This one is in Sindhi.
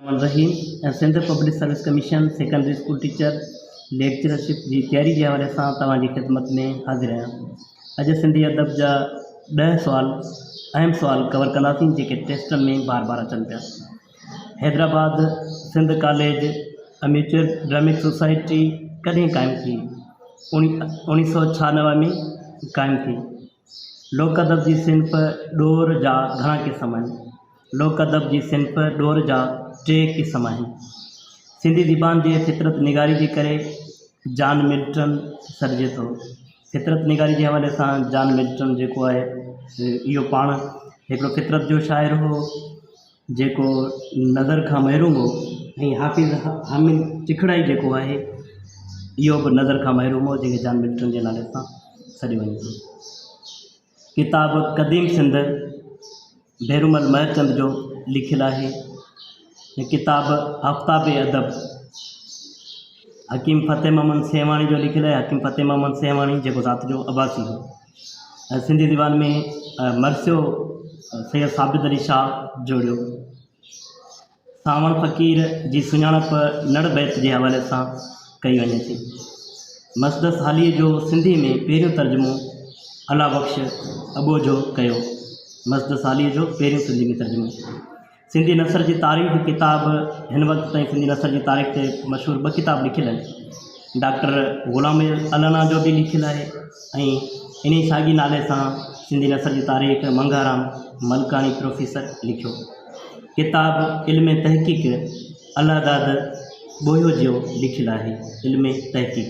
الرحمان الرحيم ۽ Sindh public service commission secondary school teacher lectureship جي تياري جي حوالي سان توهان جي خدمت ۾ حاضر آهيان اڄ سنڌي ادب جا ڏهه سوال اهم سوال ڪور ڪنداسين جيڪي ٽيسٽن ۾ بار بار اچن پيا Hyderabad Sindh college amateur dramatic society ڪڏهن قائم ٿي اوڻي سو ڇهانوي ۾ قائم ٿي لوڪ ادب جي صنف ڏور جا گهڻا قسم آهن لوڪ ادب جي صنف ڏور جا ٽي قسم آهن. سنڌي زبان جي فطرت نگاري جي ڪري جان ملٽن سڏجي ٿو. فطرت نگاري جي حوالي سان جان ملٽن جيڪو آهي اهو پاڻ هڪڙو فطرت جو شاعر هو جيڪو نظر کان محروم هو ۽ حافظ حامد چکڙائي جيڪو آهي اهو به نظر کان محروم هو جنهن کي جان ملٽن جي نالي سان سڏيو وڃي ٿو. ڪتاب قديم سنڌ ڀيرومل مهرچند جو لکيل آهي. هي ڪتاب آفتاب ادب حڪيم فتح محمد سيوهاڻي جو لکيل آهي. حڪيم فتح محمد سيوهاڻي جيڪو ذات جو عباسي هو ۽ سنڌي ديوان ۾ مرثيو سيد ثابت علي شاهه جوڙيو. سانوڻ فقير جي سڃاڻپ نڙ بيت جي حوالي سان ڪئي وڃي ٿي. مسدس هاليء جو سنڌيء ۾ پهريون ترجمو الله بخش اٻوجهو ڪيو. مسدس هاليء جو پهريون سنڌيء ۾ ترجمو. سنڌي نثر جي تاريخ ڪتاب هن وقت تائين سنڌي نثر جي تاريخ تي مشهور ٻه ڪتاب لکيل آهن. ڊاڪٽر غلام الانا جو به لکيل آهي ۽ انهيء ساڳي نالي سان سنڌي نثر جي تاريخ منگهارام ملڪاڻي پروفيسر لکيو. ڪتاب علم تحقيق الله داد ٻوهيو جيو لکيل آهي. علم تحقيق.